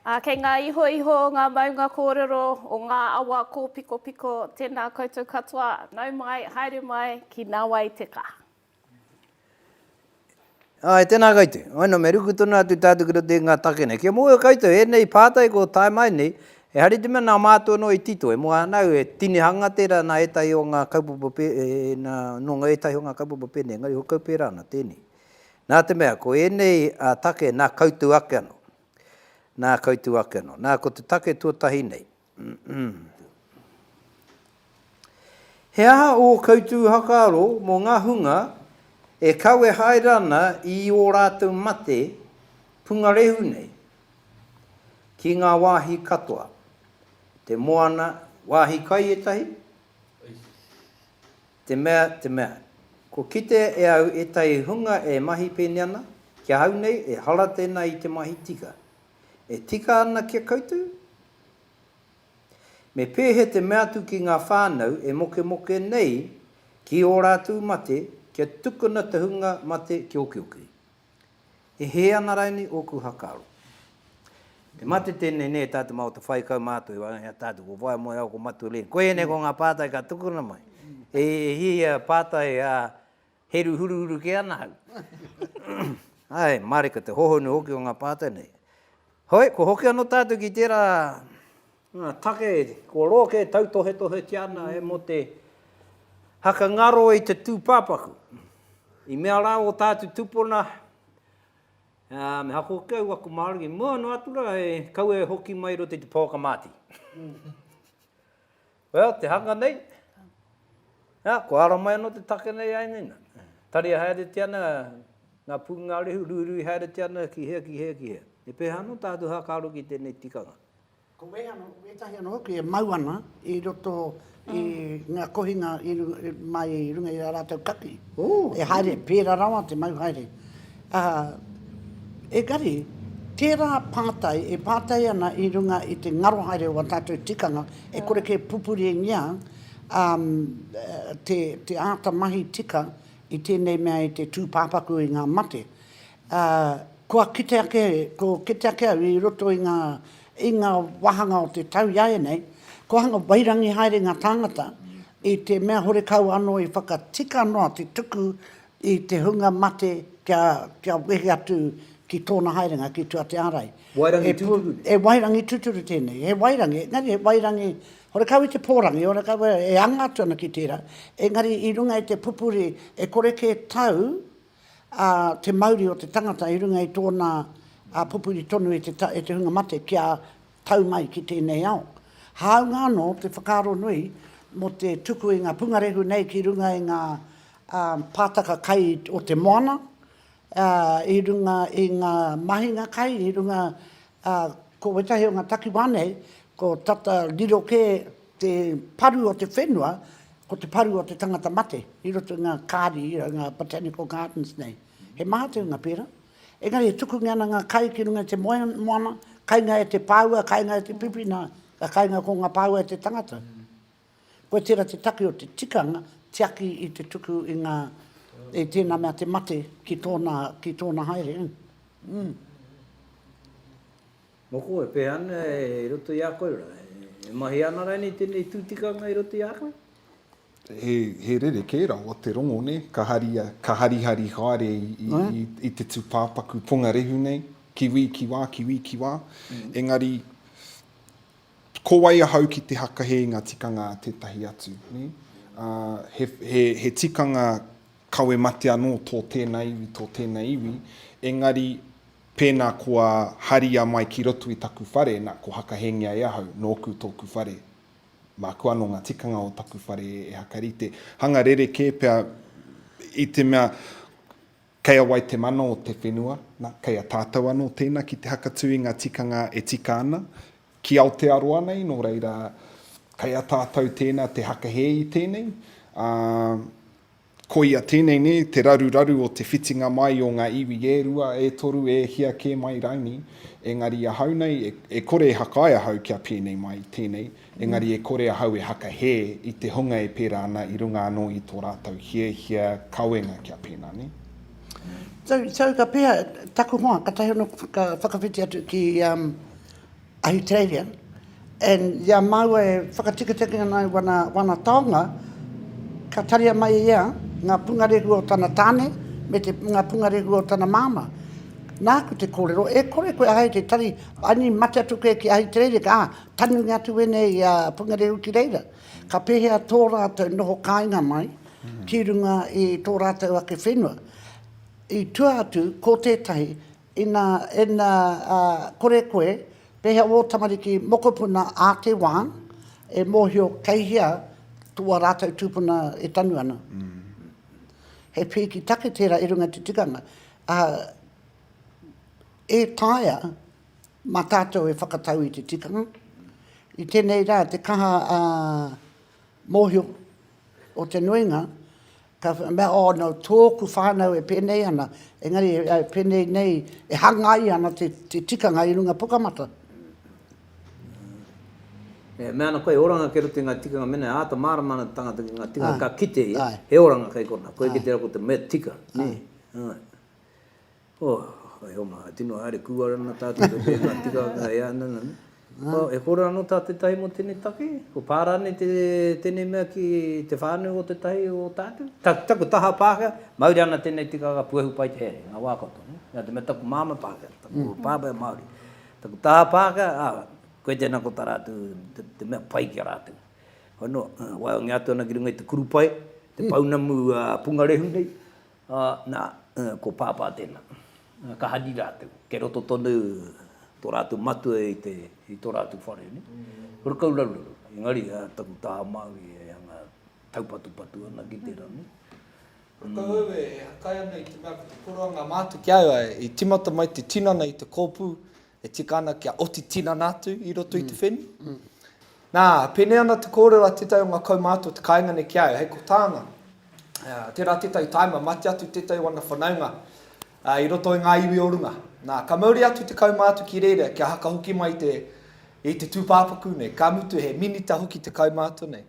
Ā, kei ngā ihoiho o ngā maunga kōrero, o ngā awa kōpikopiko, tēnā koutou katoa, nau mai, haere mai ki Nawai te Ka. Āe, tēnā koutou. Waina, me ruku tonu atu tātou ki roto i ngā take nei. Kia mōhio koutou, ēnei pātai kua tae mai nei, E hari te mea nā mātou anō i tito, e moe ana au, he tinihanga tērā nā ētahi o ngā kaupapa nā, nō ētahi o ngā kaupapa pēnei, engari he kau pērā ana tēnei. Nā te mea, ko ēnei take nā koutou ake anō, nā koutou ake anō. Nā, ko te take tuatahi nei, He aha ō koutou whakaaro mō ngā hunga e kawe haere ana i ō rātou mate pungarehu nei ki ngā wāhi katoa, te moana, wāhi kai ētahi? Te mea, te mea, kua kitea e au ētahi hunga e mahi pēnei ana, ki ahau nei, ehara tēnā i te mahi tika. E tika ana ki a koutou? Me pēhea te mea atu ki ngā whānau e mokemoke nei ki ō rātou mate kia tukuna te hunga mate ki okioki? E hē ana rainei ōku hakaro? Te mate tēnei nē, tā te mao te whai kaumātua i waenga i a tātou, ko wai moe au ko Mature. Koianei ko ngā pātai ka tukuna mai. E hia pātai a. Heru huruhuru kē ana ahau. Ae, mareka te hohonu hoki o ngā pātai nei. Hoi, kua hoki anō tātou ki tērā. Take, kua roa kē tautohetohetia ana e mō te haka ngaro i te tūpāpaku. I mea rā ō tātou tūpuna, me haka hoki au aku māra ki mua noa atu rā, he kaua e hoki mai i roto i te pouaka māti. Well, te hanga nei, ā, kua ara mai anō te take nei āe nei nā. Tari haeretia ana ngā pūngārehu, ruirui haeretia ana ki hea, ki hea, ki hea. He pēhā anō tātou hākāro ki tēnei tikanga? Ko wēhano, wētahi anō hoki e mau ana i roto i ngā kohinga i runga, mai i runga i ā rātou kaki. Ooh! E haere, pērā rawa te mau haere. Ā, engari, tērā pātai e pātai ana i runga i te ngaro haere o ā tātou tikanga, e kore kē pupuringia te āta mahi tika i tēnei mea i te tūpāpaku i ngā mate. Ā, kua kite ake, kua kite ake au i roto i ngā, i ngā wāhanga o te tau iāianei, kua hanga wairangi haere ngā tāngata i te mea horekau anō i whakatika noa te tuku i te hunga mate kia, kia wehi atu ki tōna haerenga, ki tua te ārai. Wairangi tūturu nei? He wairangi tūturu tēnei, he wairangi, engari he wairangi, horekau i te pōrangi, horekau e anga atu ana ki tērā, engari i runga i te pupuri e kore kē tau ā, te mauri o te tangata i runga i tōna ā, pupuri tonu i te, i te hunga mate kia tau mai ki tēnei ao. Hāunga anō te whakaaro nui mō te tuku i ngā pungarehu nei ki runga i ngā pātaka kai o te moana, i runga i ngā mahinga kai, i runga, ko wētahi o ngā takiwā nei, ko tata riro kē te paru o te whenua, ko te paru o te tangata mate, i roto i ngā kāri, i ngā botanical gardens nei. He maha te unga pērā. Engari e tukungia ana ngā kai ki runga i te moana, kainga e te pāua, kainga e te pipina, ka kainga ko ngā pāua e te tangata. Koe tērā te take o te tikanga, tiaki i te tuku i ngā, i tēnā mea te mate ki tōna, ki tōna haere. Mm. Moko e pēhea ana i roto i a koe rā? E mahi ana rānei tēnei tū tikanga i roto i a koe? He, he rerekē rawa te rongo, nē? Ka haria, ka harihari haere i, i, mm. i, i te tūpāpaku pongarehu nei, ki wī, ki wā, ki wī, ki wā. Mm. Engari, ko wai ahau ki te hakahe i ngā tikanga a tētahi atu, nē? Uh, he, he, he tikanga kawe mate anō tō tēnā iwi, tō tēnā iwi, engari pēnā kua haria mai ki roto i taku whare, nā, ko hakahengia e ahau, nōku tōku whare. Māku anō ngā tikanga o taku whare e hakarite. Hanga rerekē pea i te mea kei a wai te mana o te whenua, na, kei a tātou anō tēnā ki te hakatū i ngā tikanga e tika ana ki Aotearoa nei, nō reira kei a tātou tēnā te hakahē i tēnei. Ā. Koia tēnei nē te raruraru o te whitinga mai o ngā iwi e rua, e toru, e hia kē mai raini, engari ahau nei, e, e kore e hakae ahau kia pēnei mai, tēnei, engari e kore ahau e hakahē i te hunga e pērā ana i runga anō i tō rātou hiahia kawenga kia pēnā nē. Tau, tau ka pēhea taku hoa, katahi anō ka whakawhiti atu ki, um. Ahitereiria, and i a māua e whakatikitiki ana i wana, wana taonga, ka taria mai ia ngā pungarehu o tana tāne me te, ngā pungarehu o tana māmā. Nāku te kōrero, e kore koe ahei te tari, I mean, mate atu koe ki Ahitereiria, ka tanungia atu wēnei a pungarehu ki reira. Ka pēhea tō rātou noho kāinga mai ki runga i tō rātou ake whenua. I tua atu, ko tētahi, Ina ina kore koe, pehea wō tamariki mokopuna ā te wā e mōhio kei hea tō ā rātou tūpuna e tanu ana? He pīki take tērā i runga i te tikanga, ā, e taea mā tātou e whakatau i te tikanga. I tēnei rā, te kaha mōhio o te nuinga, Ka mea, oh no, tōku whānau e pēnei ana, engari e pēnei nei, e hangaia ana te tikanga i runga Pukamata. Ā. E mea ana koe, oranga kei roto i ngā tikanga, mēnā e āta mārama ana te tangata ki ngā tikanga ka kite ia, he oranga kei konā, koe kei te rā ko te mea tika, nē? Āe. Oh, e oma, e tino haere kua rana tā te toke ngā tikanga e ana na. Oh, e kore ano tā tetahi mo tenei take, ko pā rānei te tenei mea ki te whānau o tetahi o tātou? Ta, taku taha Pākehā, mauri ana tenei tikanga puehu pai te haere, nga wā katoa, ne? Nga te mea taku māmā Pākehā, taku pāpā Māori. Taku taha Pākehā, ah, koe tēnā ko tā rātou te, te mea pai ki a rātou. Hono, ah, waeongia atu ana ki runga i te kurupae, te pounamu, ah, pungarehu nei, Ā, nā, ko Pāpā tēnā. Ka hari rātou. Kei roto tonu tō rātou matua i te, i tō rātou whare, nē. Huri kau raruraru. Engari, ā, taku taha Māori e hanga taupatupatu ana ki tērā, nē. Huri kau au e hakai ana i te mea ko te koroanga mātu ki a au, ā, i tīmata mai te tinana i te kōpū, e tika ana kia oti tinana atu i roto i te whenua. Nā, pēnei ana te kōrero a tētahi o ngā kaumātua o te kāinga nei ki a au, hei ko tāna, tērā tētahi tāima, mate atu tētahi o ana whanaunga i roto i ngā iwi o runga. Nā, ka mauri atu te kaumātua ki reira kia haka hoki mai te, i te tūpāpaku nei, ka mutu he minita hoki te kaumātua nei.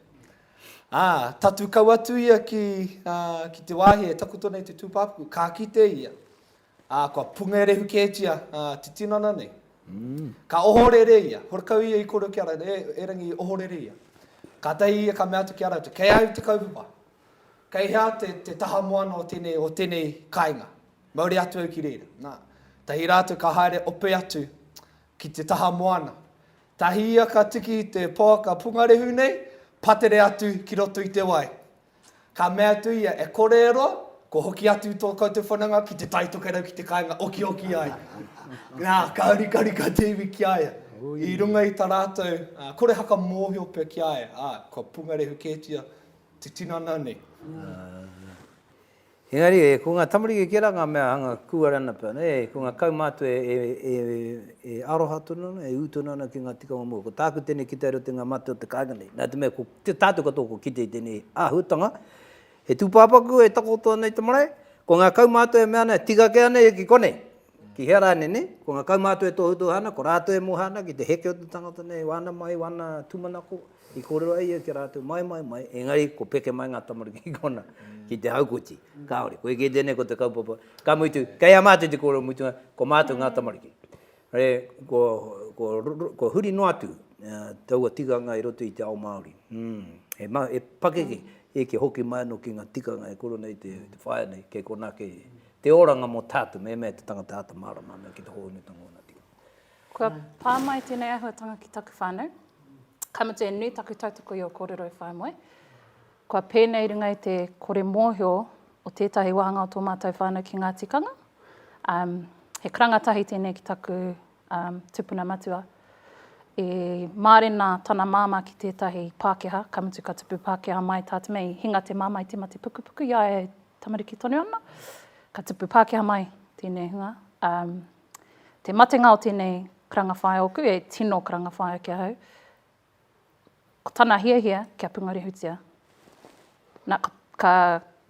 Ā, tatū kau atu ia ki, ki te wāhi e takoto nei te tūpāpaku, ka kite ia. Ā, kua pungerehu kētia te tinana nei. Ka ohorere ia, horekau ia i koro ki a rātou, E, erangi, ohorere ia. Kātahi ia ka mea atu ki a rātou, Kei a au te kaupapa. Kei hea te, te taha moana o tēnei, o tēnei kāinga? Mauri atu au ki reira. Nā, tahi rātou ka haere ope atu ki te taha moana. Tahi ia ka tiki i te poaka pungarehu nei, patere atu ki roto i te wai. Ka mea atu ia, E kore e roa, kua hoki atu tō koutou whananga ki te tai tokerau ki te kāinga okioki ai. Nā, ka urikarika te iwi ki a ia. I runga i tā rātou korehaka mōhio pea ki a ia, ā, kua pungarehu kētia te tinana nei. Engari, ko nga tamariki kē rā nga mea hanga kūarana pea, nē, ko nga kaumātua e aroha tonu ana, e ū tonu ana ki nga tikanga mua. Ko tāku tēnei ki te aro te nga mate o te kāinga nei. Nā te mea, ko tātou katoa kua kite i tēnei āhuatanga, he tūpāpaku e takoto ana i te marae, ko nga kaumātua e mea ana, tika kē anei ki konei. Ki hea rānei nei, ko ngā kaumātua e tohutohu ana, ko rātou e moha ana ki te heke o te tangata nei, wāna mai, wāna tūmanako, i kōrero ai ia ki a rātou, mai, mai, mai, engari ko peke mai ngā tamariki ki konā, ki te haukoti. Kāore, koe kē tēnei ko te kaupapa. Ka mutu, kei a mātou te kōrero mutunga, ko mātou ngā tamariki. Re, ko, ko, ko huri noa atu taua tikanga i roto i te ao Māori. Mm. He, ma, he pakeke, e ke hoki mai anō ki ngā tikanga e koro nei te, te whaea nei, kei konā, kei, Te oranga mo tatu me mea te tangata ata marama me ki te hohonutanga ona tika. Kua pa mai tenei ahuatanga ki taku whanau. Ka mutu e nui taku tautoko i o korero e whae moe. Kua penei runga i te kore mohio o tetahi wahanga o to matou whanau ki nga tikanga. Um, he karanga tahi tenei ki taku um, tupuna matua. E marena tana mama ki tetahi Pakeha, ka mutu ka tupu Pakeha mai ta te mei, hinga te mama i te mate pukupuku, ia e tamariki tonu ana, ka tupu Pākehā mai tēnei hunga. Um, te matenga o tēnei karanga whaea oku, e tino karanga whaea ki ahau, ko tana hiahia kia pungarehutia. Na, ka, ka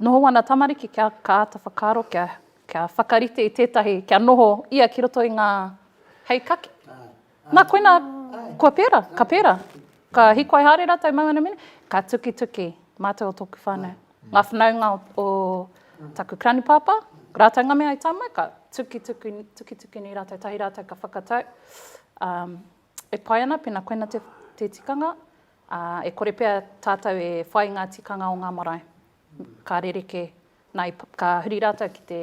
noho ana tamariki kia ka āta whakaaro, kia, kia whakarite i tētahi, kia noho ia ki roto i ngā hei kaki. Na koina, kua pera, ka pera. Ka hikoai haere ratou mau ana mine, ka tukituki matou o toku whanau. Nga whanaunga o taku granipapa, ratou nga mea i ta mai, ka tukituki, tukituki nei ratou, tahi ratou ka whakatau, um, e pai ana pena koina te, te tikanga, a, e kore pea tatou e whai nga tikanga o nga marae. Ka rereke, na, i, ka huri ratou ki te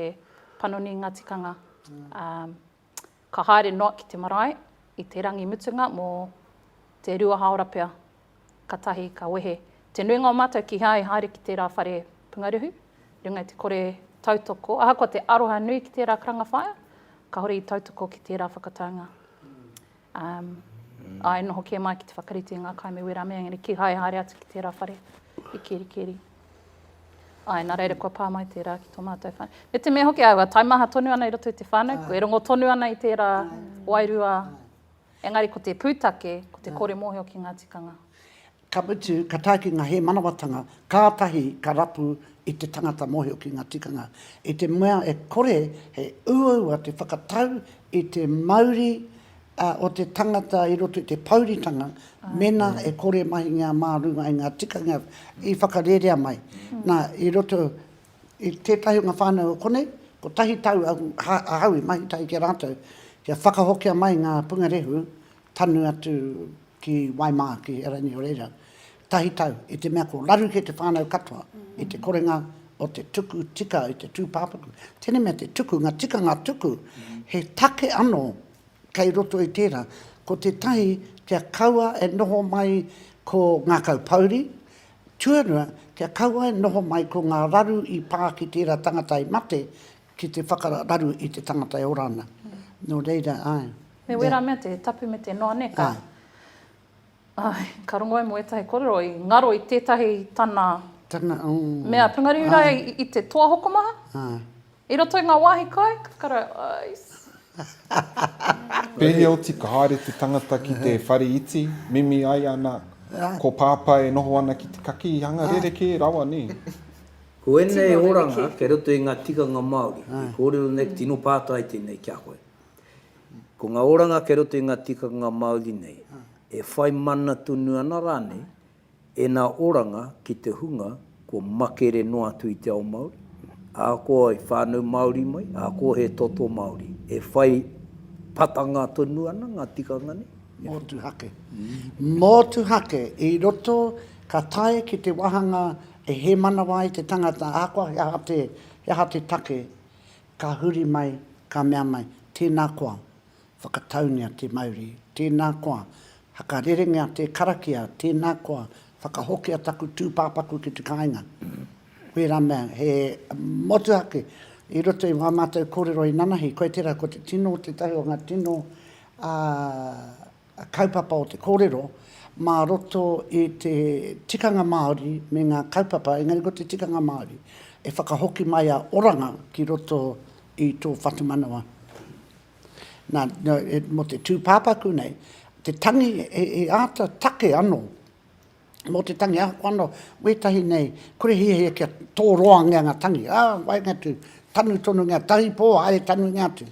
panoni i nga tikanga, um, Ka haere noa ki te marae i te rangi mutunga mō te rua hāora pea, katahi ka wehe te nuinga o mātou kihea e haere ki tērā whare pungaruhu, runga i te kore tautoko, ahakoa te aroha nui ki tērā karanga whaea, kahore i tautoko ki tērā whakataunga. Āe, noho kē mai ki te whakarite i ngā kai me wērā mea, engari kīhai haere atu ki tērā whare i Kerikeri. Āe, nā reira kua pā mai tērā ki tō mātou whānau. Me te mea hoki aua taimaha tonu ana i roto i te whānau, kua e rongo tonu ana i tērā wairua, engari ko te pūtake, ko te kore mōhio ki ngā tikanga. Ka mutu, ka tae ki ngā hēmanawatanga, kātahi ka rapu i te tangata mōhio ki ngā tikanga. I te mea e kore he uaua te whakatau i te mauri o te tangata i roto i te pouritanga, mēnā e kore mahingia mā runga i ngā tikanga i whakarerea mai. Nā, i roto i tētahi o ngā whānau o konei, kotahi tau ahau i mahi tahi ki a rātou, kia whakahokia mai ngā pungarehu tanu atu ki Waimāa, ki Erangi o reira, tahi tau, i te mea ko raru kē te whānau katoa i te korenga o te tuku tika i te tūpāpaku. Tēnei mea te tuku, ngā tikanga tuku, he take anō kei roto i tērā, ko tētahi kia kaua e noho mai ko ngā kaupouri, tuarua, kia kaua e noho mai ko ngā raru i pā ki tērā tangata i mate, Ki te whakararu i te tangata e ora ana. Nō reira, āe. Me wērā mea te tapu me te noa, nē, ka. Āe. Āe, ka rongo ai mō ētahi kōrero i ngaro i tētahi tana. Tana, ō. Mea pūngariu rā i te toa hokomaha. Āe. I roto i ngā wāhi kai, ka kara, āe. Pēhea oti ka haere te tangata ki te whare iti, mimi ai ana, ko Pāpā e noho ana ki te kakī, hanga rerekē rawa, nē. Ko ēnei oranga kei roto i ngā tikanga Māori i kōrero nei, tino pātai tēnei ki a koe. Ko ngā oranga kei roto i ngā tikanga Māori nei, e whai mana tonu ana rānei ēnā oranga ki te hunga kua makere noa atu i te ao Māori, ahakoa i whānau Māori mai, ahakoa he toto Māori. E whai patanga tonu ana ngā tikanga nei. Motuhake. Motuhake i roto ka tae ki te wāhanga E hē manawa ai te tangata, ahakoa he aha te, he aha te take, ka huri mai, ka mea mai, tēnā koa, whakataungia te mauri, tēnā koa, hakarerengia te karakia, tēnā koa, whakahokia taku tūpāpaku ki te kāinga. Wērā mea, he motuhake i roto i wā mātou kōrero inanahi, koe tērā, ko te tino, tētahi o ngā tino, ā, kaupapa o te kōrero mā roto i te tikanga Māori me ngā kaupapa, engari ko te tikanga Māori e whakahoki mai a Oranga ki roto i tō whatumanawa. Nā, mō te tūpāpaku nei, te tangi he āta take anō. mō te tangi ako ano wētahi nei kore hiahia kia tōroangia nga tangi, a, waenga atu, tanu tonungia, tahi pō, haere tanungia atu.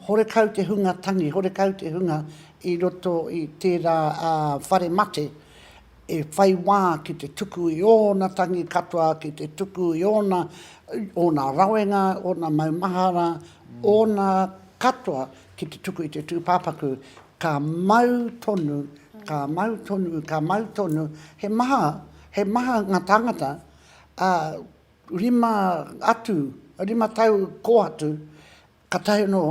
Horekau te hunga tangi, horekau te hunga i roto i tērā whare mate e whai wā ki te tuku i ōna tangi katoa, ki te tuku i ōna, ōna rawenga, ōna maumahara, ōna katoa Ki te tuku i te tūpāpaku, ka mau tonu, ka mau tonu, ka mau tonu. He maha, he maha ngā tāngata, ā, rima atu, rima tau kō atu, kātahi anō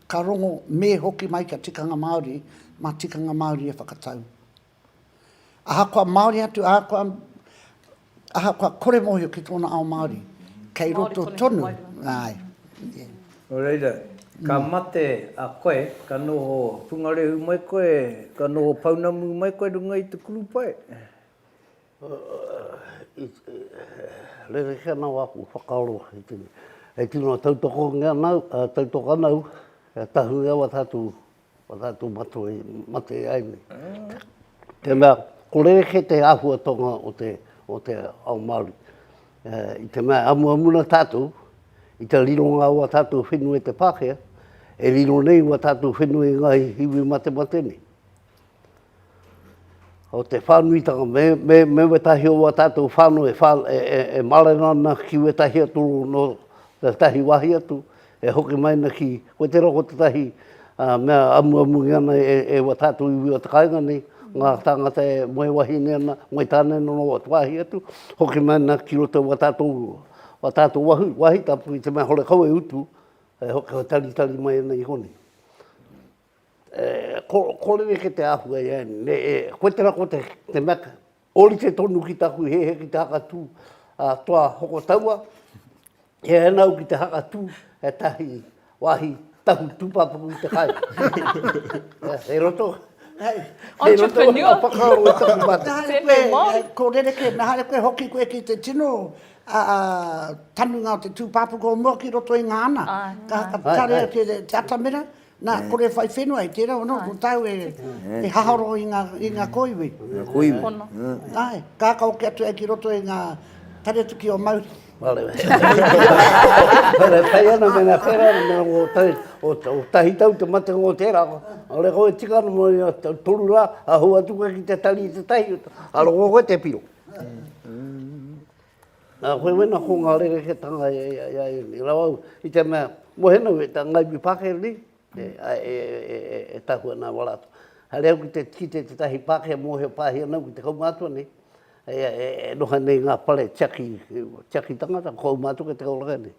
ka rongo, me hoki mai kia tikanga Māori, mā tikanga Māori e whakatau. Ahakoa Māori atu, ahakoa, ahakoa kore mōhio ki tōna ao Māori, kei roto tonu, āe, ē. Nō reira, ka mate a koe, ka noho pungarehu mai koe, ka noho pounamu mai koe runga i te kurupae. Rerekē ana wā kua whakaaro i te mea, e tino tautokongia ana au, tautoka ana au, kia tahuri au a tātou Ko tātou matua i mate ai nei. Tēnā, ko rerekē te āhuatonga o te, o te ao Māori. I te mea, amuamu na tātou, i te rironga o a tātou whenua i te Pākehā, e riro nei o a tātou whenua i ngā iwi matemate nei. o te whānuitanga, me, me, me wetahi o wā tātou whānau e, whā, e, e, e mārena ana ki wetahi atu no tētahi wāhi atu, e hoki mai ana ki, ko tērā ko tētahi uh, mea amuamungi ana e, e wā tātou iwi o te kāinga nei, ngā tāngata e moe wahine ana, moe tāne no wā wāhi atu, hoki mai ana ki roto wā tātou, wā tātou wahu, wāhi tapu i te mea hore kau e utu, e hoki ho taritari mai ana i konei. Ko, kōrere ke te āhua i ēnei, me e, koe tērā ko te, te Mac, ōrite tonu ki tāku he he ki te hakatū a toa hoko taua, he ēnau ki te hakatū e tahi wāhi tahu tūpāpaku i te kai. Hei roto, hei, hei roto o ngā whakaaro i taku mātou. Nā haere koe, ko rereke, nā haere koe hoki koe ki te tino, a, tanunga o te tūpāpaku o mua ki roto i ngā ana. Ka, ka tare atu te atamira, Nā, kore e whai whenua i tērā, anō, ko tāu e, e haharo i ngā, i ngā kōiwi. Ngā kōiwi. Pono. Āe, kākau ki atu ai ki roto i ngā taretuki o Mauri. Wale, wale, whai ana me ngā whera, me ngā o tahi, o, o tahi tau te mate ngō tērā. Ole koe tika ana mo i a toru rā, a hua atu koe ki te tari i te tahi, aro ngō koe te piro. Nā, koe wena ko ngā rerekētanga i a ēnei rā au, i te mea, mohe nōu e tā Ngāiwi Pākehā nei, e tahu ana e wala atu. Haere au ki te tiki te tētahi Pākehā mōhio pāhi ana au ki te kaumātua nei, e noho nei ngā whare tiaki, tiaki tangata, ko au mātou kei te kauraka nei.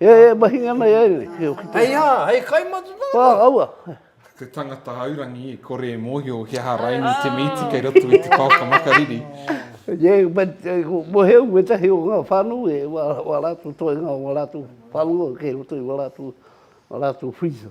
E, e, mahi ngā mai ai nei. Hei a, hei kai matu nā. Wā, aua. Te tangata haurangi e kore e mōhio ki aha raini te mīti kei roto i te paoka makariri. Ie, but, mo heu me tahi o ngā whānu e wā rātu toi ngā wā rātu whānu o kei roto i wā rātu, wā rātu whiza.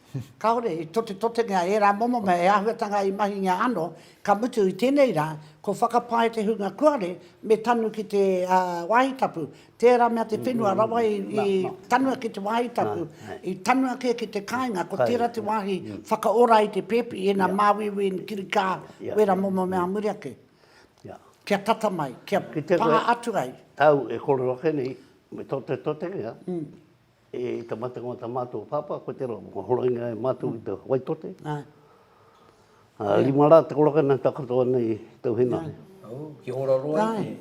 Kāore i totetotengia ērā momo mea e āhuatanga i mahingia anō, ka mutu i tēnei rā, ko whakapae te hunga kuare me tanu ki te wāhi tapu. Tērā mea te whenua rawa i tanua ki te wāhi tapu, i tanua kē ki te kāinga, ko tērā te wāhi whakaora i te pēpi, ina māuiui, ina kirikā, wērā momo mea a muri ake. Kia tata mai, kia pā atu ai. Au e kore ake nei, me totetotengia. E tamatanga o ta matou papa ko te ro ko horoina e matou i te Waitote. A rima ra te koraka na ta katoa nei i tau henare. Oh, ki hora roa i te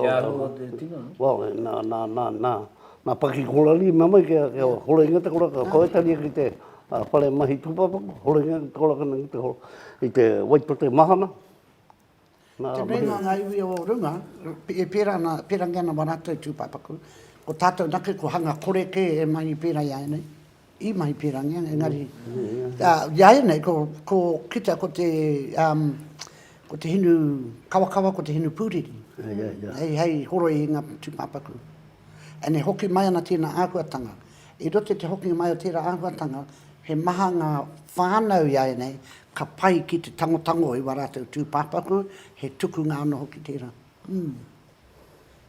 te aro o te tino, no? Well, na, na, na, na, na paki korari me mai kia kia horoina te koraka ko Etaria ki te whare mahi tupapaku, horoina te koraka na ki te i te Waitote mahana. Te nuinga o ngā iwi o runga, e pērā ana, pērangi ana wā rātou tūpāpaku, ko tātou anake kua hanga kore kē e mahi pērā i a ēnei, i mahi pērangi, engari i a ēnei, ko kita ko te, ko te hinu kawakawa, ko te hinu pūriri, hei horoi i ngā tūpāpaku. And e hoki mai ana tēnā āhuatanga. I roto i te hokinga mai o tērā āhuatanga, he maha ngā whānau iāianei ka pai ki te tangotango i wā rātou tūpāpaku, he tukunga anō hoki tērā.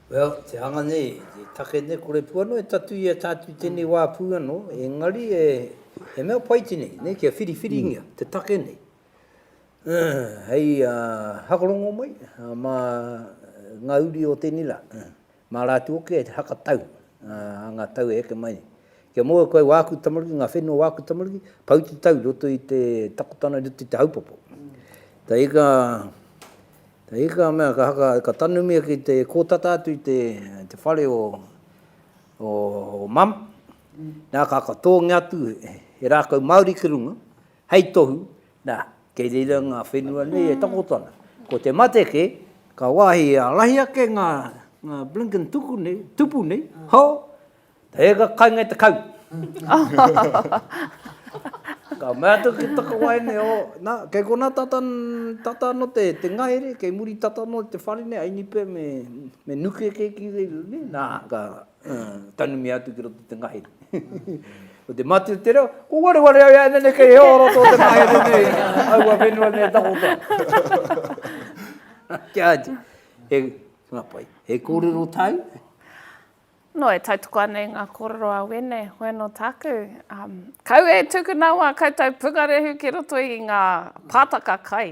Well, te hanga nei, te take nei, kore pū anō e tatuia tātou i tēnei wā pū anō, engari e, he mea pai tēnei, nei, kia whiriwhiringia te take nei. Hei hakorongo mai mā ngā uri o tēnei rā. Mā rātou hoki e whakatau, ā, ngā tau e heke mai nei. Kia mau koe wā aku tamariki, ngā whenua o wā aku tamariki, pau te tau i roto i te takotana, i roto i te haupopo. Ka ika, ka ika a mea, ka haka, ka tanumia ki te kōtata atu i te, te whare o, o, o mum, nā, ka, ka tōngia atu he rākau Māori ki runga, Hei tohu, nā, kei reira ngā whenua nei e takoto ana. Ko te mate kē, ka wāhi he ārahi ake ngā blinkin tuku nei, tupu nei, hō! He eka kainga i te kau! Ka mea atu ki Takawaene, ō, nā, kei konā tata, tata anō te, te ngahere, kei muri tata anō te whare nei, a Inipe me, me Nuke kē ki reira nei, nā, ka, Tanumia atu ki roto te ngahere. Ko te mati o te reo, ko ware ware au ea nene kei heo roto o te ngahere nei, au a whenua nei takota. Kia ati, he ngapai, he kōrero tāu? No, e tautoko ana i ngā kōrero a Wene, hoi anō tāku. Um, kau e tūku nā wā koutou pungarehu ki roto i ngā pātaka kai.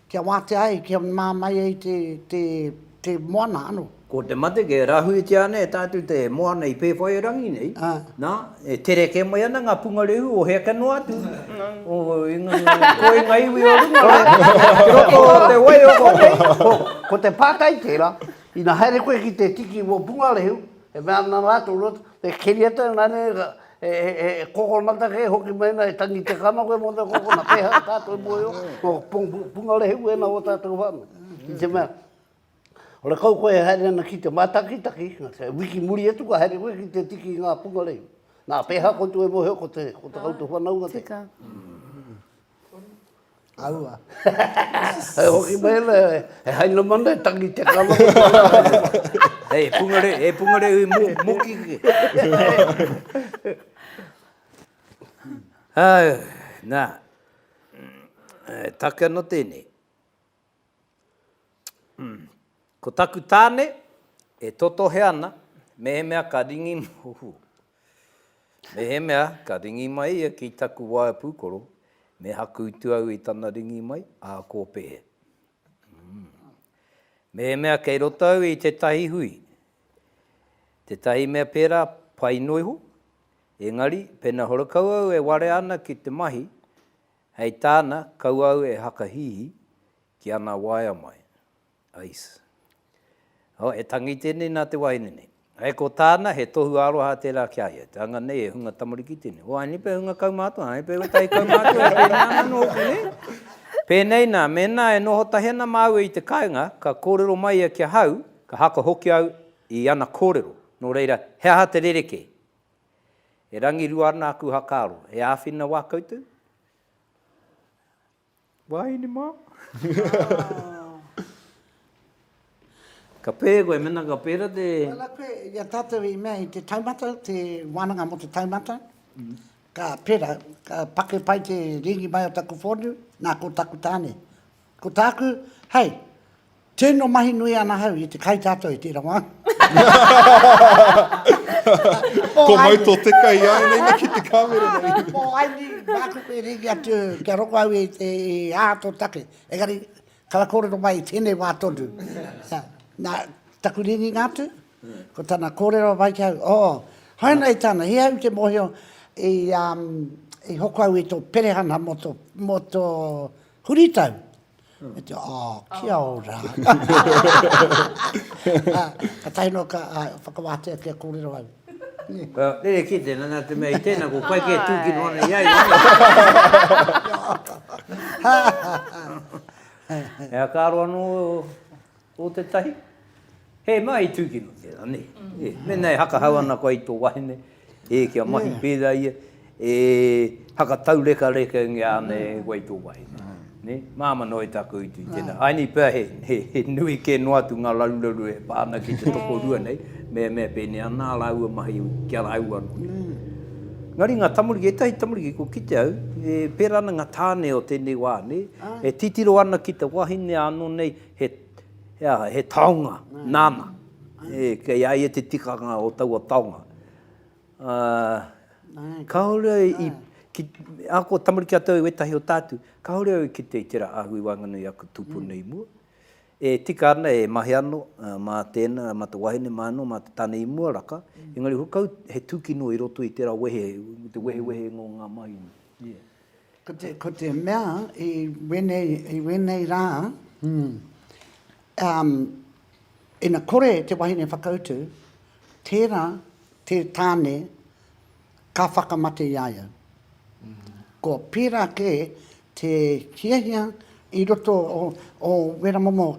Kia wātea ai, kia māmai ai te moana ano. Ko te mate kia rahuitia ana e tātou te moana i Pēwhairangi nei, nā, e tere kē mai ana ngā pungarehu o hea ka noa atu, o ko i ngā iwi o runga rā, ki roto o te waiora nei. Ko te pātai tērā, ina haere koe ki te tiki o pungarehu, e mea ana rātou, e keria tau, nā reira, He kokonata kē hoki mēnā e tangi te kano koe mō te kokonata, pēhea o tātou mōhio, ko Pungarehe wēnā o tātou whānau. I te mea, ora kau koe e haere ana ki te mātakitaki, wiki muri atu ka haere koe ki te tiki i ngā pungarehe. Nā, pēhea koutou e mōhio ko te koutou whanaunga te. Tika. Aua. Hei hoki mai ana, he haina mana e tangi te kano. Hei, e pungare, e pungare ui muki. Hei, nā, e take ana tēnei. Ko taku tāne e totohe ana mehemea ka ringi Oho! Mehemea ka ringi mai ia ki taku waea pūkoro, me hakuutu au i tana ringi mai, ā, ko Pehe. Mehemea kei roto au i tētahi hui, tētahi mea pērā pai noa iho, engari pēnā horekau au e warea ana ki te mahi, Hei tāna, kau au e hakahihi ki ana waea mai. Ice. Oh, e tangi tēnei nā te wahine nei. Hei ko tāna, he tohu aroha tērā ki a ia. Te anga nei e hunga tamariki tēnei. Oh, anei pea hunga kaumātua, anei pea ētahi kaumātua e pēnei ana anō hoki, nē? Pēnei nā, mēnā e noho tahi ana māua i te kāinga, ka kōrero mai ia ki ahau, ka haka hoki au i ana kōrero. Nō reira, he aha te rerekē? E rangirua ana aku hakaaro. E āwhina wā koutou? Wahine mā? Ka pēhea koe mēnā ka pērā te... Tēnā koe i a tātou i mea i te taumata, te wānanga mō te taumata. Ka pērā, ka pake pai te rīngi mai o taku whōniu, nā, ko taku tāne. Ko tāku, hei, tino mahi nui ana hau i te kai tātou i tērā wā. Ko mau tō te kai i āina ina ki te kāmera nei. Ko Aini, māku koe rīki atu kia rongo au i te ā tō take. Engari, kara kōrero mai i tēnei wā tonu. Nā, taku rīringa atu, ko tana kōrero mai ki au, oh, hainei tāna, he au te mōhio i, um, i hoko au i tō perehana mō tō, mō tō, Huritau! Me te, oh, kia ora! Ka tahi noa ka whakawātea kia kōrero au. Rerekē tēnā, nā te mea i tēnā ko koe kē tūkino ana i a ia, nē? He aka aro anō. Ko tētahi, he mea i tūkino tērā, nē. E, mēnā e hakahau ana koe i tō wahine, e, kia mahi pērā ia, e hakataurekarekaingia ana e koe i tō wahine, nē. Māmā noa i tāku utu i tēnā. Āinī pea he, he, he nui kē noa atu ngā raruraru e pā ana ki te tokorua nei, me, me pēnei ana ā rāua mahi ki a rāua anō. Engari ngā tamariki, ētahi tamariki kua kite au, e pērā ana ngā tāne o tēnei wā, nē, e titiro ana ki te wahine ānō nei, He, he aha, he taonga nāna. E, kei a ia te tikanga o taua taonga. Ā, kāore au i, ki, ahakoa tamariki atu au ētahi o tātou, kāore au i kite i tērā ahu i waenganui i aku tūpuna i mua. E tika ana, e mahi anō, mā tēnā, mā te wahine, mā anō, mā te tane i mua raka, engari hukau he tūkino i roto i tērā wehe, me te wehewehenga o ngā mahinga. Ko te, ko te mea i wēnei, i wēnei rā, mm, um, ina kore te wahine whakautu, tērā te tāne ka whakamate i a ia. Ko pērā kē te hiahia i roto o, o Wera Momo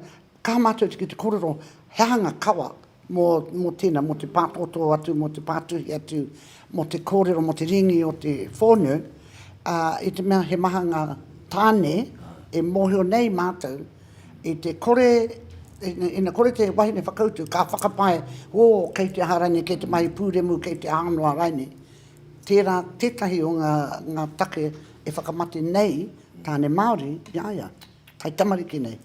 Kaha mātou ki te kōrero he aha ngā kawa mō, mō tēnā, mō te pātōtō atu, mō te pātuhi atu, mō te kōrero, mō te rīngi o te whōnu, ā, i te mea he maha ngā tāne e mōhio nei mātou i te kore, ina, ina kore te wahine whakautu, ka whakapae, ō, kei te aha rainei, kei te mahi pūremu, kei te aha noa rainei. Tērā tētahi o ngā, ngā take e whakamate nei tāne Māori i a ia, hai tamariki nei.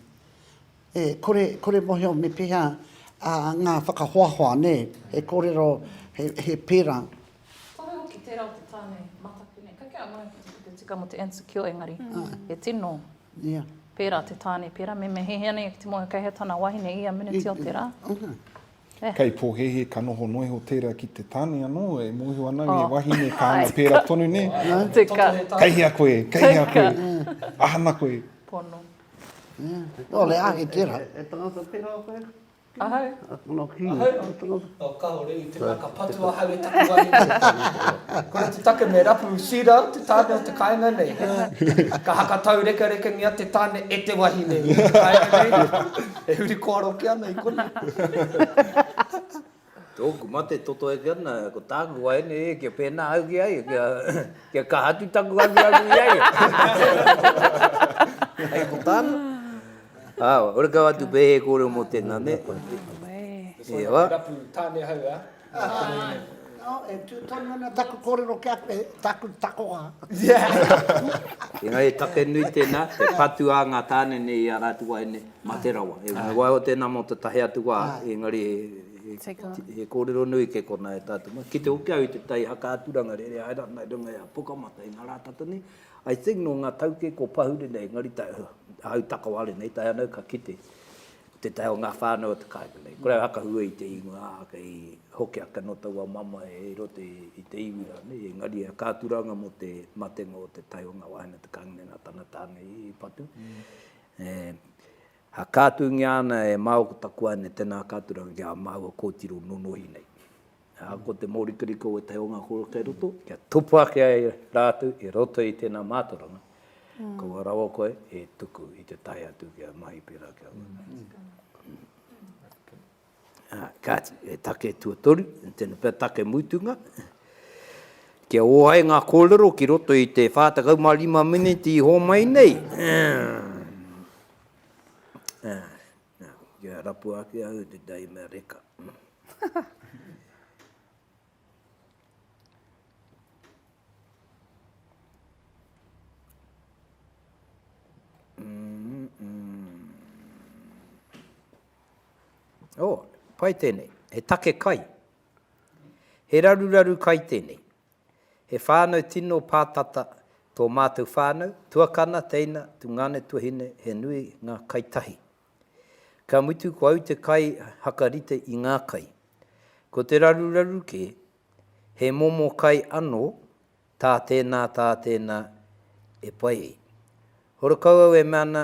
E kore, kore mohio me pehea a nga whakahoahoa, ne, he korero, he, he pera. Whakahoe hoki tera o te tane mataku ne. Kei kea ngana ki te kupu tika mo te Ansukio engari, he tino pera te tane pera, me mehehea nei ki te moe kei hea tana wahine ia miniti o te ra. Kei pohehe ka noho noa iho tera ki te tane ano e mohio ana nge wahine ka anga pera tonu ne. Kei hea koe, kei hea koe, ahana koe. Pono. Nō le āke tērā. E tangata tērā koe? Ahau. Ahau. O kāore i te mea ka patu ahau e taku wāhine. Kore te take me rapu Sira, te tāne o te kāinga nei. Ka haka taurekerekengia te tāne e te wahine i te kāinga nei. E huri kōaroke ana i konei. Tōku mate toto eke ana, ko tāku waeine e, kia pēnā au ki a ia, kia, kia kaha atu taku aruaru i a ia. Hei ko tāna? Ā, ora kau atu pea he kōrero mō tēnā, nē? He wā. Rapu tāne hau, ā? Ā, e tū tonu ana taku kōrero ki a koe, tāku takoha. Engari he take nui tēnā, te patu a ngā tāne nei i a rātou waeine. Mate rawa. He waiho tēnā mō tētahi atu wā, engari he kōrero nui kē konā e tātou. Ki te hoki au i te tai haka aturanga rere haere ana i runga i a Pukamata, i ngā rā tata nei, I think nō ngā tau kē kua pahure nei, engari ahau takawale nei, tae ana au ka kite, ko tētahi o ngā whānau o te kāinga nei, kore au hakahua i te ingoa, ā, kei hoki ake anō taua mamae i roto i te iwi rānei, engari he aturanga mō te matenga o te tai o ngā wāhine o te kāinga nei nā tana tāne i patu. E whakaatungia ana e Mao ko taku ane tena katuranga ki a maua kotiro nonohi nei. A, ko te morikarika o etahi o nga koro kei roto, kia tupu ake ai ratou i roto i tena matoranga, kaua rawa koe e tuku i te tae atu ki a mahi pera ki a mahi. Ā, kāti, he take tuatoru, tēnā pea take mutunga, kia ō ai ngā kōrero ki roto i te 45 miniti i hōmai nei. Ā, nā, kia rapua ake au i te tae mea reka. Oh, pai tēnei. He take kai. He raruraru kai tēnei. He whānau tino pātata tō mātou whānau, tuakana, teina, tungāne, tuahine, he nui ngā kai tahi. Ka mutu ko au te kai haka rite i ngā kai. Ko te raruraru kē, he momo kai anō, tā tēnā, tā tēnā e pai ai. Horekau au e mea ana,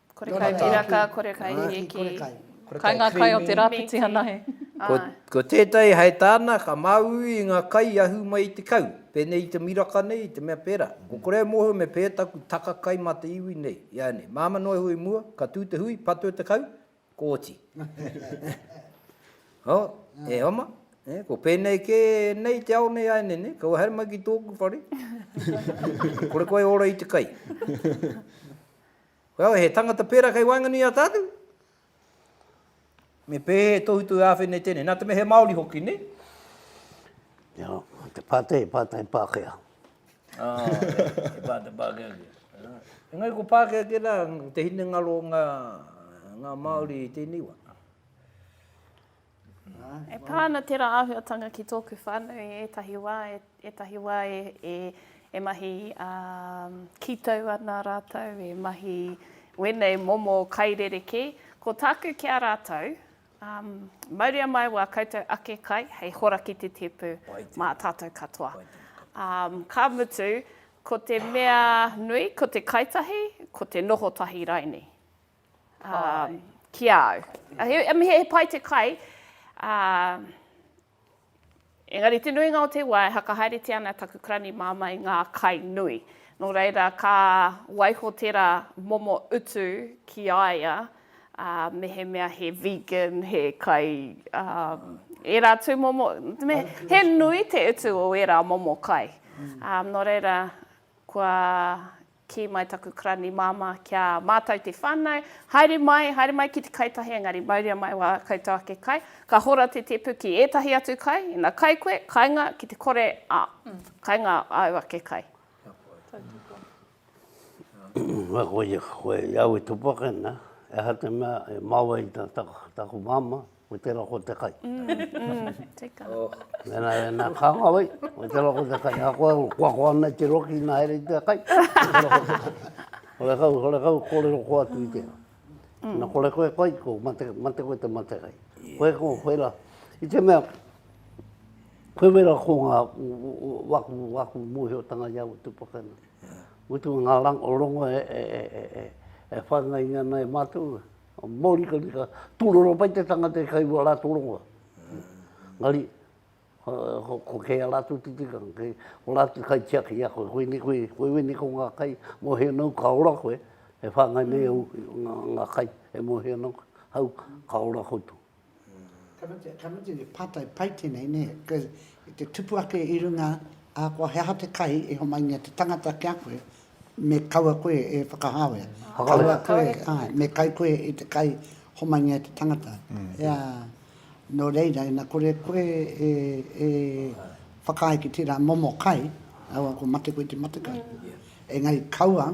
Kore kai piraka, kore kai hieki. Kai ngā kai o te rāpiti anahe. Ko tētahi hei tāna, ka māuiui i ngā kai i ahu mai i te kau, pēnei i te miraka nei, i te mea pērā. Ko kore e mōhio me pēhea taku taka kai mā te iwi nei, iānei. Māmā noa iho i mua, ka tū te hui, patua te kau, ko oti. Ho, e oma, ko pēnei kē nei te ao nei, iānei, nei, kau haere mai ki tōku whare. Kore koe e ora i te kai. Koia he tangata pērā kei waenganui i a tātou? Me pēhea e tohutohu āwhina i tēnei? Nā te mea he Māori hoki, nē? Ia, te pātai, he pātai Pākehā. Oh, he pātai Pākehā kē. Engari ko Pākehā kē rā te hinengaro o ngā, ngā Māori i tēnei wā? E pā ana tērā āhuatanga ki tōku whānau i ētahi wā, ētahi wā e mahi kītou ana rātou, e mahi wēnei momo kai rerekē. Ko tāku ki a rātou, mauria mai wā koutou ake kai hei hora ki te tēpu mā tātou katoa. Ka mutu, ko te mea nui, ko te kai tahi, ko te noho tahi raini. Āe. Ki a au. I mean, he pai te kai, ā, engari te nuinga o te wā e whakahaeretia ana taku karani māmā i ngā kai nui. Nō reira, ka waiho tērā momo utu ki a ia, ā, mehemea he vegan, he kai, ā, ērā tūmomo, me, he nui te utu o ērā momo kai. Ā, nō reira, kua. Kī mai taku karani māmā ki a mātou te whānau, Haere mai, haere mai ki te kai tahi, engari mauria mai wā koutou ake kai. Ka hora te tēpu ki ētahi atu kai, ina kai koe, kainga ki te kore, ā, kainga āu ake kai. Ka kōrero koe, i au e tupu ake ana, e aha te mea e mau ai taku māmā? Ko tera ko te kai. Mena ka nga wai, ko tera ko te kai. A koe o kua kua nei te roki na here i te kai. Kore kau, kore kau, kore ro kua tu i te. Na kore koe kai, ko mate, mate koe te mate kai. Koe ko whera, i te mea, koe wera ko nga waku, waku mohi o tanga i au tu pakana. Utu nga rang, o rongo e, e, e, e, e, e whangai nga nei matu. Mōrikarika, tūroro pai te tangata e kairua rātou rongoa. Engari, ko kē a rātou te tikanga, kei o rātou kai tiaki i a koe, koinei koe, koe wene ko ngā kai mōhio nau ka ora koe, e whāngai nei au ngā kai e mōhio nau, hau ka ora koutou. Karatea, karatea te pātai pai tēnei, nē, because i te tupu ake i runga ahakoa he aha te kai i homaingia te tangata ki a koe, me kaua koe e whakahāwea. Whakahāwea. Kaua koe, āe, Kāore. me kai koe i te kai homaingia e te tangata. Ea, nō reira, ina kore koe e, e whakaae ki tērā momo kai, ahakoa ko mate koe te matekai. Engari kaua,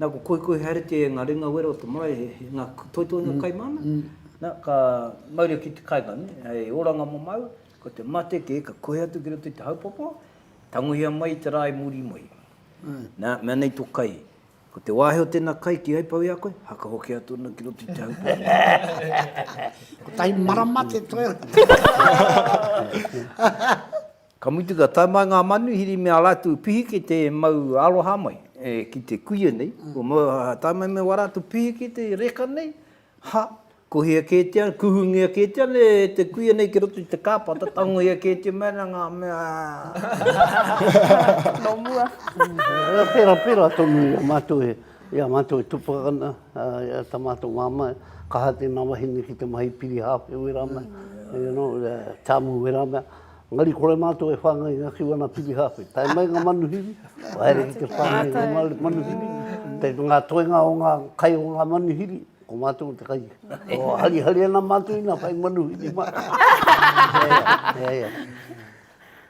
Nā, ko Koikoi haere te ngā ringa wera o te marae, he, he ngā kupu toitoi nei kai māna. Nā, ka mauria ki te kāinga, nē, hei oranga mamao, ko te mate kē, ka kohi atu ki roto i te haupapa, tangohia mai i te rā i muri mai. Nā, mea nei tō kai, ko te wāhi o tēnā kai kīhai pau i a koe, haka hoki atu ana ki roto i te haupapa. Kotahi marama te toe. Ka mutu ka tae mai ngā manuhiri me a rātou pihikete e mau aroha mai ki te kuia nei, kua mau aha, ka tae mai me wā rātou pihikete i reka nei, ha, kohia kētia, kuhungia kētia nei e te kuia nei ki roto i te kāpata, tangohia kētia mai ana ngā mea. Nō mua. Pērā, pērā tonu i a mātou e, i a mātou e tupua ana, tā mātou māmā, kaha tēnā wahine ki te mahi piri hāwhe wērā mea, you know, tamu wērā mea. Engari kore mātou e whāngai ngakiu ana Pirihāwhe. Tae mai ngā manuhiri, kua haere ki te whāngai ngā manuhiri. Te ngā toenga o ngā kai o ngā manuhiri, ko mātou ko te kai. Kua harihari ana mātou i nā whai manuhiri mātou. Ia, ia.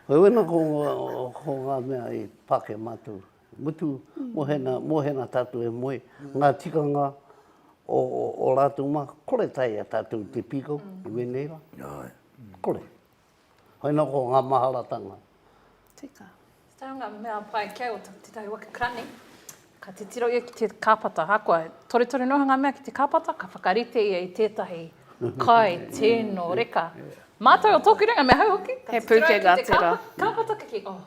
Hoi wena ko ngā mea i pāke mātou. Mutu, mohena, mohena tātou e moe, ngā tikanga o rātou mā, kore tae i a tātou te pīkau i wēnei rā. Kore. Hoi no ko nga maharatanga. Tika. Tau nga mea pai kei o tetahi waka karani, ka titiro ia ki te kapata, ahakoa, torutoru noa nga mea ki te kapata, ka whakarite ia i tetahi kai tino reka. Matou o toku ringa, me ahau hoki, he pukenga tera. Kapata ka ki, oh.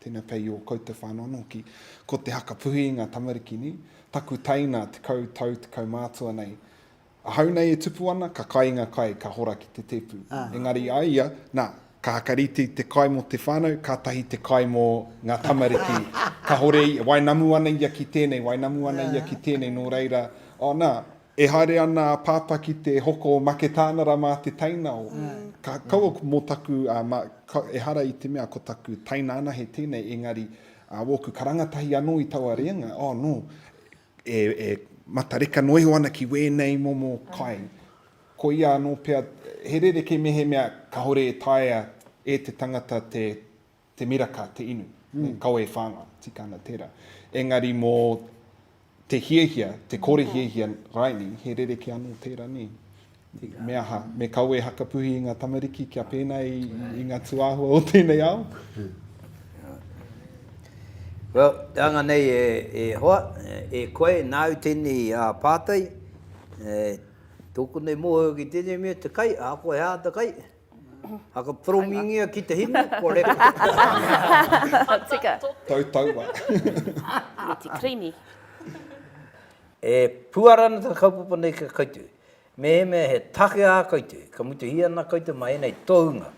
Tena kei o koutou whanau ano hoki. Ko te haka puhi i nga tamariki ni, taku taina tekau tau tekau mātua nei. Ahau nei e tupu ana, ka kai nga kai, ka hora ki te tepu. Engari a ia, na, ka haka rite te kai mo te whanau, katahi te kai mo nga tamariki. Kahore ia, wainamu ana ia ki tenei, wainamu ana ia ki tenei, no reira, oh na, E haere ana a Pāpā ki te hoko o Maketānara mā te tainao. Ka kaua mō taku, ehara i te mea ko taku taina anahe tēnei, engari wōku karanga tahi anō i taua rēnga, oh nō, e matareka noa iho ana ki wēnei momo kai. Koia anō pea, he rerekē mehemea kāore e taea e te tangata te te miraka, te inu, me kawe e whāngai, tika ana tērā. Engari mō te hiahia, te kore hiahia raini, he rerekē anō tērā nei. Me aha, me kawe e hakapuhi i ngā tamariki kia pēnā i, i ngā tūāhua o tēnei ao? Well, te anga nei e, e hoa, e koe, nāu tēnei a pātai, e, tōku nei mōhio ki tēnei mea te kai, ahakoa he aha te kai, Haka poromingia ki te hinu ko reka. Haka tika. Tau taua. Me te creamy. E puara ana te kaupapa nei ki a koutou. Mehemea he take ā koutou, ka mutuhia ana koutou mā ēnei tohunga.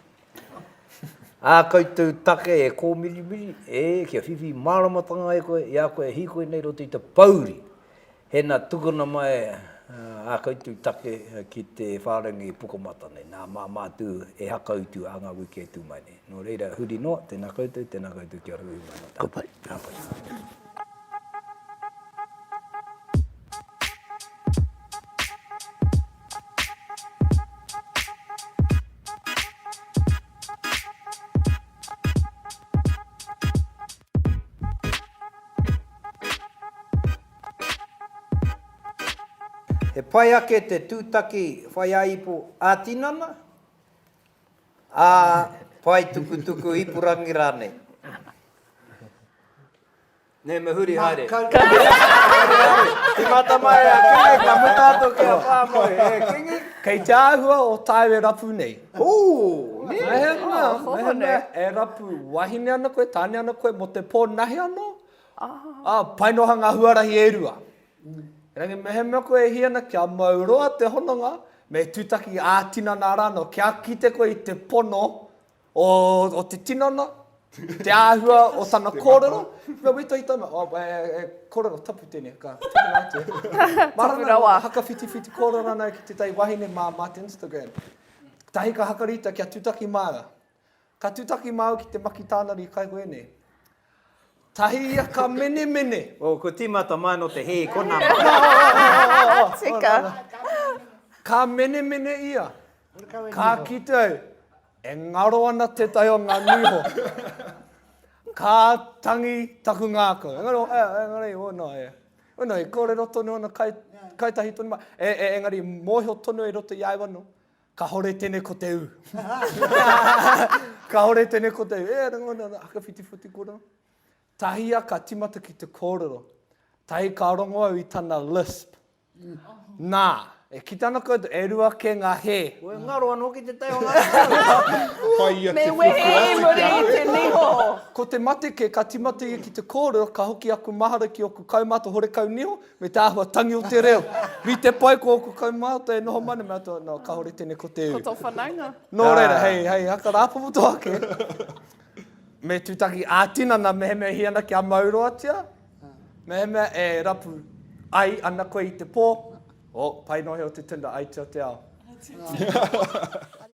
Ā koutou take e kōmirimiri, ē, kia whiwhi māramatanga e koe, i a koe e hīkoi nei i roto i te pōuri. Hena tukuna mai a koutou take ki te wharengi pukamata nei, nā Māmā Tū e hakautu ā ngā wiki e tū mai nei. Nō reira, huri noa, tēnā koutou, tēnā koutou kia hui mai no tātou. Ka pai. He pai ake te tūtaki whaiāipo ā-tinana, ā-paetukutuku ipurangi rānei. Nē, me huri haere. Tīmata mai e a Kingi, ka muta atu ki a Pāmoe, e Kingi. Kei te āhua o tāu e rapu nei. Ooh, nē. Mehemea, mehemea e rapu wahine ana koe, tāne ana koe mō te pō nahe anō, Ā, pai noa ngā huarahi e rua. Engari mehemea koe e hī ana kia mau roa te hononga, me tūtaki ā-tinana rānō, kia kite koe i te pono o te tinana, te āhua o tana kōrero, kua wetoi tana, oh, he kōrero tapu tēnei, ka tukuna atu e. Mā rānō ngā hakawhitiwhiti kōrero rānō ki tētahi wahine mā te Instagram. Kātahi ka hakarīta kia tūtaki māua. Ka tutaki māu ki te maki tānari kaihoe nei. Tahi ia ka menemene. Oh, ko tīmata mai nō te hē, ko nā mai. Tika. Ka menemene ia. Ka kite au, e ngaro ana tētahi o ngā niho. Ka tangi taku ngākau. Engari, oh, eh, engari, oh, no, eh. Oh, no, i kōrero tonu ana kai, kai tahi tonu mai. Eh, eh, engari, mōhio tonu e roto i a au anō. Kahore tene ko te u. Kahore tene ko te u. E ara ngona na haka whiti whiti kora. Tahi a ka timata ki te korero. Tahi ka rongo au i tana lisp. Na, e ki tana koutou, e rua ke nga he. Ko e ngaro ano ki te taiho nga. Me wehe i muri i te niho. Ko te mate ke ka timata ia ki te korero, ka hoki aku mahara ki oku kaumata horekau niho, Me te āhua tangi o te reo. Rite pai ko ōku kaumātua e noho mai ana me ātou, nō, kāore tēnei ko te ū. Ko tō whanaunga. Nō reira, hei, hei haka rāpopoto ake, me tūtaki ā-tinana mehemea hī ana kia mauroatia, mehemea e rapu ai ana koe i te pō, oh, pai noa heo te tinder, ai tia te ao.